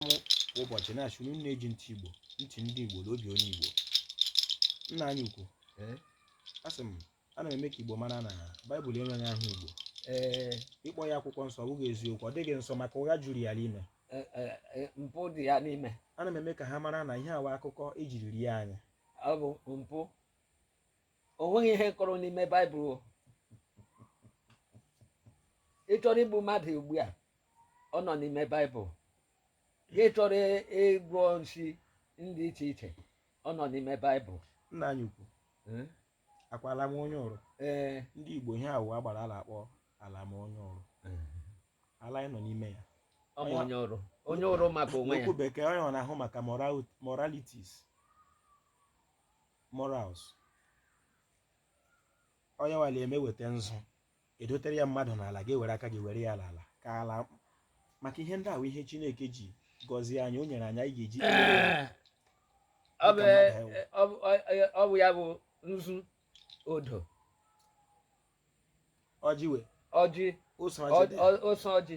m kwa ụbọchị na-achụ na unu na-eji ntị igbo ntị ndị igbo na obi onye igbo nna anyị ukwu ee asị m ana m eme ka igbo mara na baịbụl enweghị aha igbo ee ịkpọ ya akwụkwọ nsọ ọ bụghị eziokwu ọ dịghị nsọ maka ụgha juru ya n'ime e, e, e, mpụ dị ya n'ime ana m eme ka ha mara na ihe a wụ akụkọ ejiri rie anyị ọ bụ mpụ o nweghị ihe kọrọ n'ime baịbụl o. ị chọrọ igbu mmadụ ugbu a ọ nọ n'ime baịbụl gị chọrọ ịgwọ nsi ndị iche iche ọ nọ n'ime baịbụl nna anyị ukwu Eh? akwala m onye ọrụ ee ndị igbo ihe a wụ agbara a la-akpọ ala m onye ọrụ ala anyị nọ n'ime ya ọ bụ onye ọrụ onye ọrụ maka onwe ya n'okwu bekee onye ọ na-ahụ maka morality- moralities Morals. Onye nwale eme weta nzu edotere ya mmadụ n'ala gị were aka gị were ya n'ala ka ala maka ihe ndị ahụ ihe Chineke ji gọzie anyị o nyere anyị anyị ga-eji ọ bụ ya bụ nzu odo ọjị we ọjị ose ọjị ose ọjị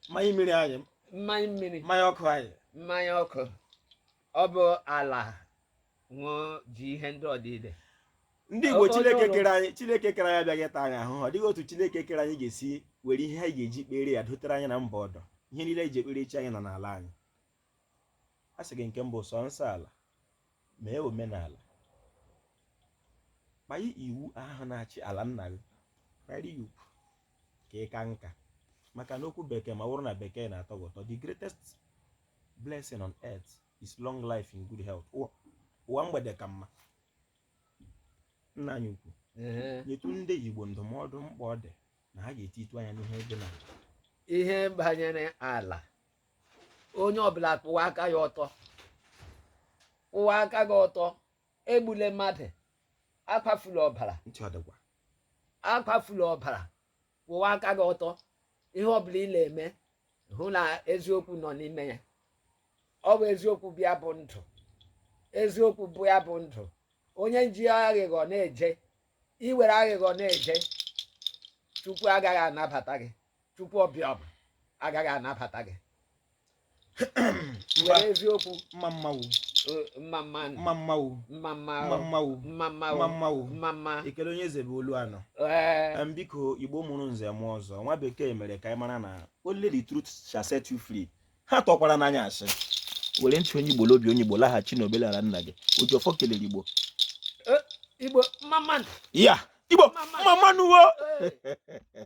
mmanya mmiri anyị mmanya mmiri mmanya ọkụ anyị mmanya ọkụ ọ bụ ala ṅụọ ji ihe ndị ọdịde ndị igbo chineke kere anyị chineke kere anyị abịaghị ịta anyị ahụhụ ọ dịghị otu chineke kere anyị ga-esi were ihe anyị ga-eji kpere ya dotere anyị na mba ọdọ ihe niile anyị ji ekpere chi anyị nọ n'ala anyị a sị gị nke mbụ sọ nsọ ala mee omenala kpanye iwu ahụ na-achị ala nna gị kpanye iwu ka ị ka nka maka n'okwu bekee ma ọ bụrụ na bekee na-atọ gị ụtọ the greatest blessing on earth is long life in good health ụwa mgbede ka mma nna anyị ukwu nyetụ ndị igbo ndụmọdụ mkpa ọ dị na ha ga-etitụ anya n'ihe dị na ihe banyere ala onye ọbụla kwụwa aka ya ọtọ kwụwa aka gị ọtọ egbule mmadụ akwafula ọbara ntị ọ dịkwa akwafula ọbara kwụwa aka gị ọtọ ihe ọbụla ị na-eme hụ na eziokwu nọ n'ime ya ọ bụ eziokwu bụ ya bụ ndụ eziokwu bụ ya bụ ndụ onye ji aghịghọ na-eje i were aghịghọ na-eje chukwu agaghị anabata gị chukwu abịama agaghị anabata gị Mba. were eziokwu mma mma nụ eh, mma mma mma mma nụ mma mma mma mma nụ mma mma mma mmanwụ mma mma ekele onye eze bụ olu anọ ee Em, biko igbo mụrụ nze mụọ ọzọ nwa bekee mere ka anyị mara na only the truth shall set you free ghọtakwara na anyị sị were ntị onye igbo na obi onye igbo laghachi na omenala nna gị oji ọfọ kelere igbo igbo mma mma ya igbo mma mma nụ o Eh.